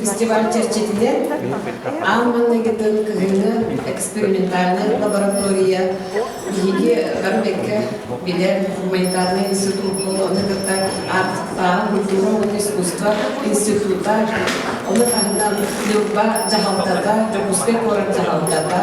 Фестиваль чэрчитинэн аан манна кытын кыһыҥҥы экспериментальная лаборатория биһиги Барбекка билэр гуманитарный институт укуол оны кытта артықтаан диплом искусство института оны таһынан Ньурба дьаһалтата Дьокуускай куорат дьаһалтата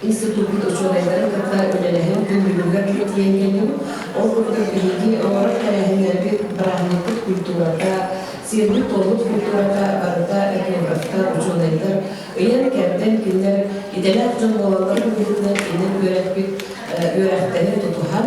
институппут учуонайдары кытта үлэлэһэн күндүлүгэр тиийэн кэллим. Ол курдук биһиги олорор тэрээһиннэрбит бырааһынньыкпыт культурата, сиэрбит-туоммут культурата барыта этнографтар, учуонайдар ыйан кэмтэн кинилэр идэлээх дьон буолалларын быһыытынан иннин үөрэппит үөрэхтэри тутуһан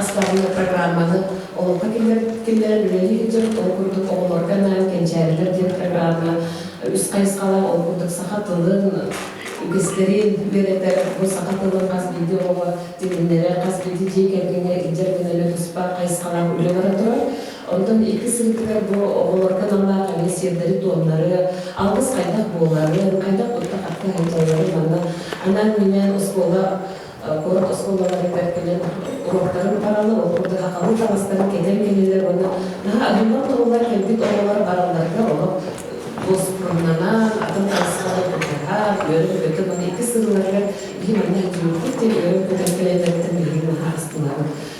Аспаабынньык программаны олоххо киллэрэр үлэлиир дьон ол курдук оҕолорго анаан кэнчээрилэр диэн программа үс хайысхалаах ол курдук саха тылын үгэстэрин үөрэтэр бу саха тылын хас биирдии оҕоҕо тэтиннэрэ хас биирдии дьиэ кэргэҥҥэ илдьэр гынарга туспа хайысхалаах үлэ бара турар онтон икки сырыытыгар бу оҕолорго аналлаах эмиэ сиэрдэри туомнары алгыс хайдах буоларын хайдах тутта хатта сылдьалларын манна анаан минээн оскуола куорат оскуолаларыгар кэлэн уруоктарын бараллар, ол курдук сахалыы таҥастарын кэтэн кэллилэр уонна наһаа адьыммат тыллар кэлбит оҕолор баралларыгар олох буоскуннанан, атын таҥастары кутуһар, үөрэн көтөн, уонна икки сырыларыгар биһи манна хирургик диэн үөрэн көтөн кэлэллэриттэн биһиги наһаа астынабыт.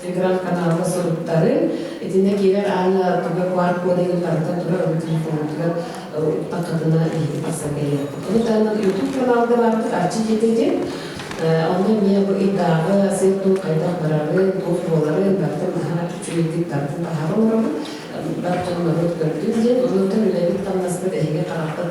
телеграм-каналга суруттарыҥ. Итиннэ киирэр аана туга QR-кодегын тардан турар, ону телефонугутугар укпаккатына иһин тахсан кэлиэххит. Ону таһынан YouTube каналга барбыт Арчы дьиэтигин. Онно эмиэ бу ыйдааҕы сыыр-туом хайдах барарын, туох буоларын бартын быһа үчүгэйдик тардын таһаҕа олоробут. Бар дьон норуот көрдүн диэн. Оннуттан үлэбит-хамнаспыт эһиги харахпыт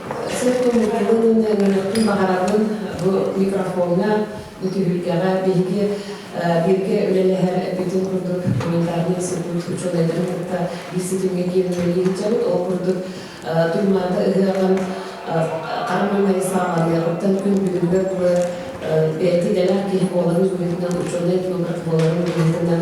Сыт микробын мөлтөтүн баҕарабын бу микрофоҥҥа, бу түһүлгэҕэ биһиги бииргэ үлэлэһэр бүтүн курдук гуманитарнай сыппыт учуонайдарын кытта биир ситимҥэ киирэн үлэлиһиччэбит. Ол курдук Турмаата ыһыаҕын Карамельнай саамалыаҕыттан күн бүгүнүгэр буолар бэйэтэ идэлээх киһи буоларын быһыытынан, учуонай филограф буоларын быһыытынан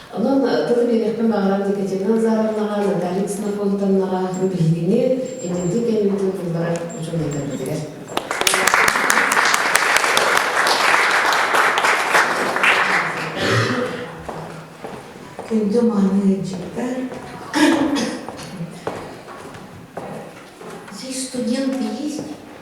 Онон тылы биэриэхпин баҕарар Екатерина Назаровнаҕа, Наталья Ксенофонтовнаҕа бу биһигини, инники кэммитин булларар учуонайдарбытыгар. Күндү мааны ыйдьыттар, здесь студенты есть?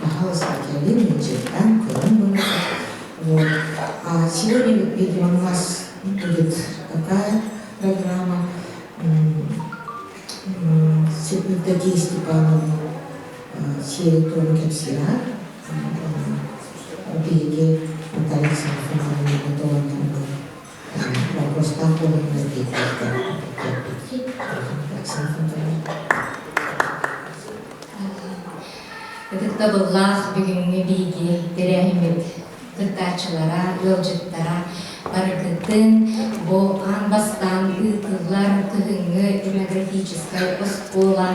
Хаһыаска кэлин дьиэттэн көрөн барар, Уот хаачыар билиҥ мас будет такая программа Света Степановна сири тоже кэпсиэт биһиги Наталья Сафоновна готовы Алгыстаах буоларга Ытыктабыллаах бүгүҥҥү биһиги тэрээһиммит кыттааччылара, ыалдьыттара барыгытын бу аан бастаан ыытыллар кыһыҥҥы демографическай оскуола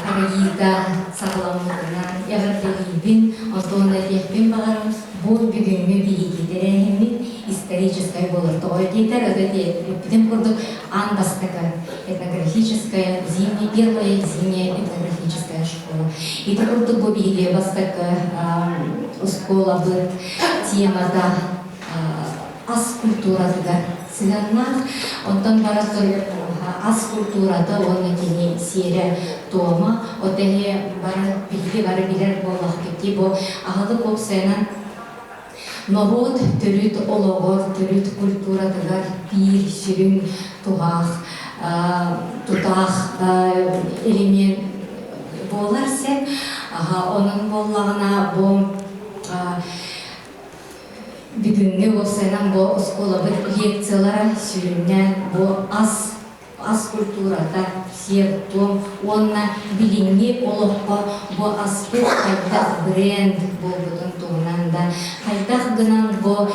арыйыыга саҕаламмытынан эҕэрдэлиибин, онтон этиэхпин баҕарабын. Бу бүгүҥҥү биһирии тэрээһиммит историческай буолар. Тоҕо диэтэр, это эппитим курдук, аан бастакы этнографическая зимние, первая зимняя этнографическая школа. Ити курдук бу биһирии бастакы оскуолабыт темата ас культуратыгар сыһыаннаах. Оттон барар сыруйар куһаҕа ас культурата уонна кини сиэрэ, туома, от эһиэ бары биһиги бары билэр буоллахпытый бу аһылык уопсайынан норуот төрүт олоҕор, төрүт культуратыгар биир сүрүн туһаах, тутаах элемент буолар син. Онон буоллаҕына бу бүгүҥҥү бу сэрэн бу оскуолабыт лекциялара сүрүннээн бу ас ас культурата сиэр-туом уонна билиҥҥи олоххо бу аспыт хайдах бренд буолбутун туһунан да хайдах гынан бу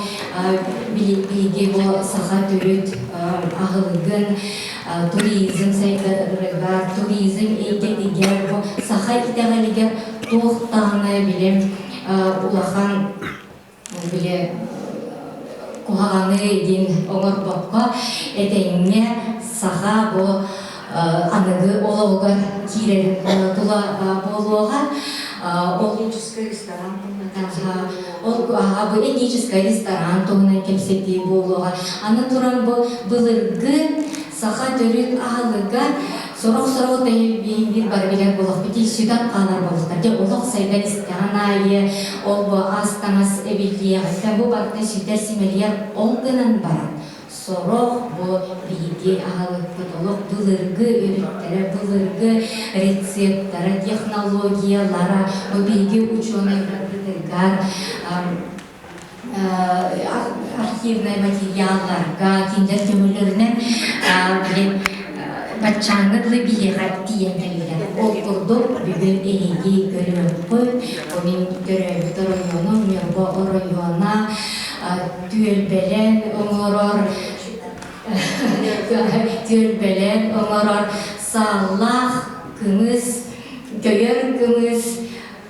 биһиги бу саха төрүт аһылыгын туризм сайдарыгар туризм эйгэтигэр бу саха итэҕэлигэр туох даҕаны билим улахан били куһаҕаны диин оҥорбокко этэҥҥэ саха бу аныгы олоҕугар киирэр тула буолуоҕа ол этническай ресторан туһунан ол аҕа бу этническай ресторан туһунан кэпсэтии буолуоҕа аны туран бу былыргы Саха төрүт аһылыга сорох-сорох тэлэбииһиндиир бары билэр буолахпыт сүтэн хаалар буолуохтар. Дьэ, олох сайда истэҕин аайы олбо ас-таҥас эбиллиэҕиттэн бу барыта сүтэр-симэлийэр он гынан баран сорох бу биһиги аһылыкпыт олох былыргы өрүттэрэ, былыргы рецептара, технологиялара, бу биһиги учуонайдар архивнай материалларга кинилэр көмөлөрүнэн билим баччааҥҥа дылы биһиэхэ тиийэн кэлбитэ. Ол курдук бүгүн эһиги көрүмэккүн, бу мин төрөөбүтэр оройуону, Ньурба оройуона түөлбэлэн оҥорор түөлбэлэн оҥорор сааллаах кымыс, көйөр кымыс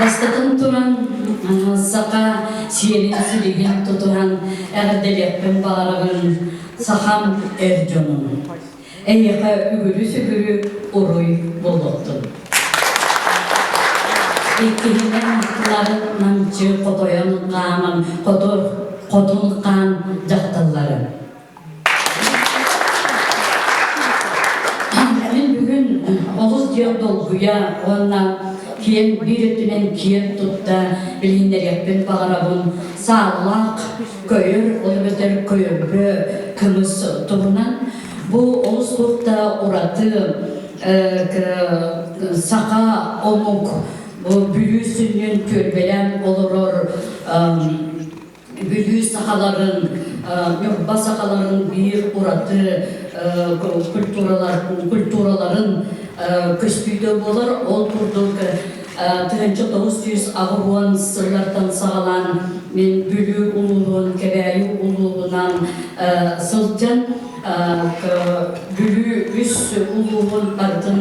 Бастатан туран, саха сиэрин силигин тутуһан эҕэрдэлиэхпин баҕарабын сахам эр дьонун. Эйиэхэ үгүрү-сүгүрү уруй буолуохтун. Иккиһинэн, нарын намчы хотойон хааман хотун хаан дьахталларын. Эн бүгүн олус диэн долгуйа уонна киэн биир өттүнэн киэн тутта билиннэриэхпин баҕарабын сааллаах көйөр ол эбэтэр көйөргө кымыс туһунан бу олус турта ураты саха омук бу бүлүү сүнньүн күөрбэлээн олорор Бүлүү сахаларын, Ньурба сахаларын биир ураты культураларын көстүүтэ буолар. Ол курдук тыһынча тоҕус сүүс аҕыһуон сыллартан саҕалаан мин Бүлүү улууһун Кэбээйи улууһунан сылдьан Бүлүү үс улууһун бартын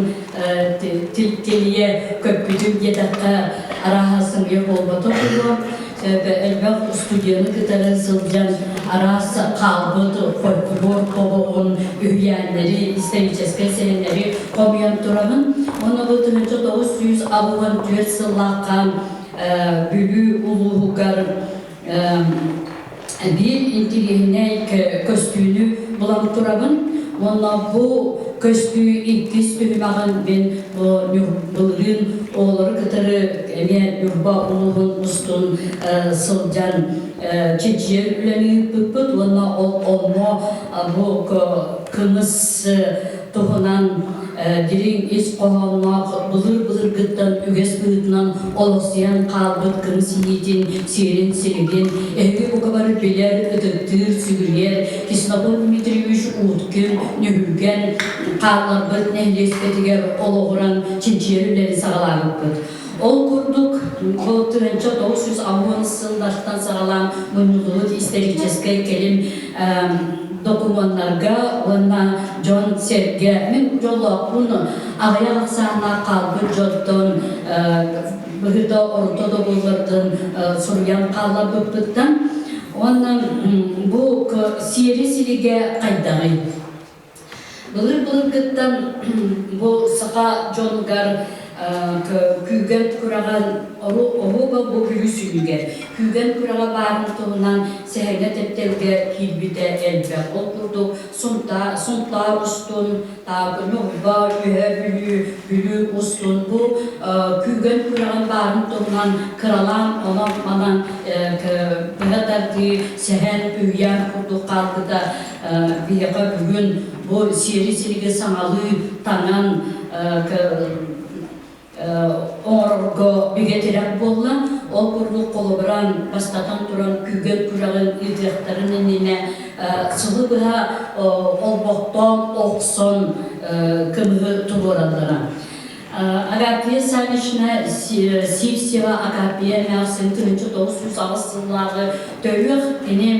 тилийэ көппүтүм диэтэххэ арааһа сымыйа буолбатах буолуо. Этэ элбэх устудьуону кытары сылдьан араас хаалбыт фольклор тобоҕун үһүйээннэри, историческай сэһэннэри хомуйан тураҕын. Ону бу тыһынча тоҕус сүүс аҕыһын түөрт сыллаахха Бүлүү улууһугар Биир интигиэһинэй көстүүнү булан турабын уонна бу көстүү иккис түһүмэҕин мин бу былырыын оҕолору кытары эмиэ Ньурба улууһун устун сылдьан чичийэр үлэни ыыппыппыт уонна ол оммо бу кымыс туһунан дириҥ ис хоһоонноох былыр-былыргыттан үгэс быһыытынан олохсуйан хаалбыт кым синиитин, сиэрин-силигин, эһиги бука бары билэр, ытыктыыр, сүгүрүйэр Кислоков Дмитриевич Ууткин ньүһүлгэн хаалларбыт нэһилиэспитигэр олоҕуран чинчийэр үлэни саҕалаабыппыт. Ол курдук, бу тыһыынча тоҕус жүз алуон сыллартан саҕалаан мунньуллубут историческай кэлим докумуоннарга уонна дьон-сэргэ мин дьоллоохпун аҕыйах ахсааннаах хаалбыт дьонтон быһыыта орто доҕоллордон суруйан хаалларбыппыттан уонна бу сиэри-силигэ хайдаҕый? Былыр-былыргыттан бу саха дьонугар күүгэн күрэҕэр оһуоба бу күлүү сүнүгэр күүгэн күрэҕэ баарын туһунан сэһэҥҥэ тэптэлгэ киирбитэ элбэх. Ол курдук сунтаар устун, Таакыньы Уйба Үөһэ Бүлүү, Бүлүү устун бу күүгэн күрэҕин баарын туһунан кыралаан онон-манан быһа тардыы сэһэн үһүйээн курдук хаалбыта. Биһиэхэ бүгүн бу сиэри-силиги саҥалыы танан оҥорорго бигэ тирэх буолла. Ол курдук холобуран бастатан туран күүгэн күрэҕин ыытыахтарын иннинэ сылы быһа олбохтоон охсон көмүһү туруораллара. Агапия Савична Сивсева Агапия эмээхсин күнүнчэ тоҕус сүүс аҕыс сыллааҕы төрүөх тиним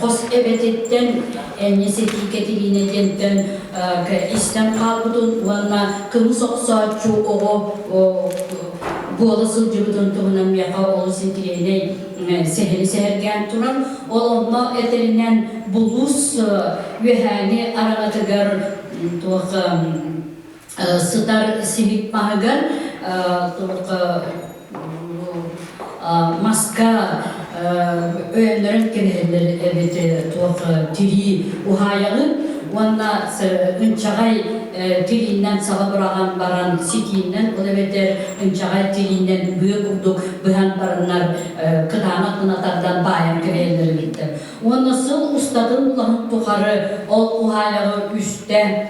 хос эбэтиттэн Энни Сэтии Кэтириинэ диэнтэн истэн хаалбытын уонна кымыс охсооччу оҕо буола сылдьыбытын туһунан миэхэ олус интириэһинэй сэһэни сэһэргээн туран ол онно этэринэн булуус үөһээни араҥатыгар туох сытар сибик паһыгар маска өйөннөрөн кэбиһэллэр эбит туох тирии уһаайалын уонна ынчаҕай тирииннэн саба быраҕан баран ситииннэн ол эбэтэр ынчаҕай тирииннэн быа курдук быһан бараннар кытаанах гына тардан баайан кэбиһэллэр эбиттэр уонна сыл устатын улаһын тухары ол уһаайаҕа үстэ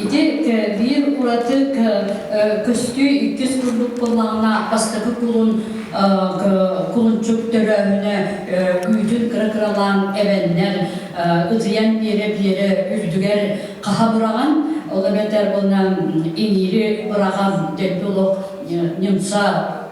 Ити биир уратык көстүү иккис курдук буоллаҕына бастакы кулун кулунчук төрөөһүнэ күүтүн кыра-кыралаан эбэннэр ытыйан биэрэ-биэрэ үрдүгэр хаха быраҕан ол эбэтэр буолан иҥиири быраҕан дэлби олох немца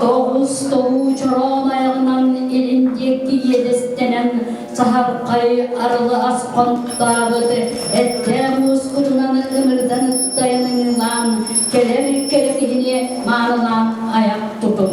Тоҕус тобуу чороон айаннан илин диэки иэдэстэнэн саһархай арылы аспан тутаабыт эттээх муускутунан ынырдан ыттайан ыҥыылаан кэлэр кэрэ киһини маанылаан айах тутум.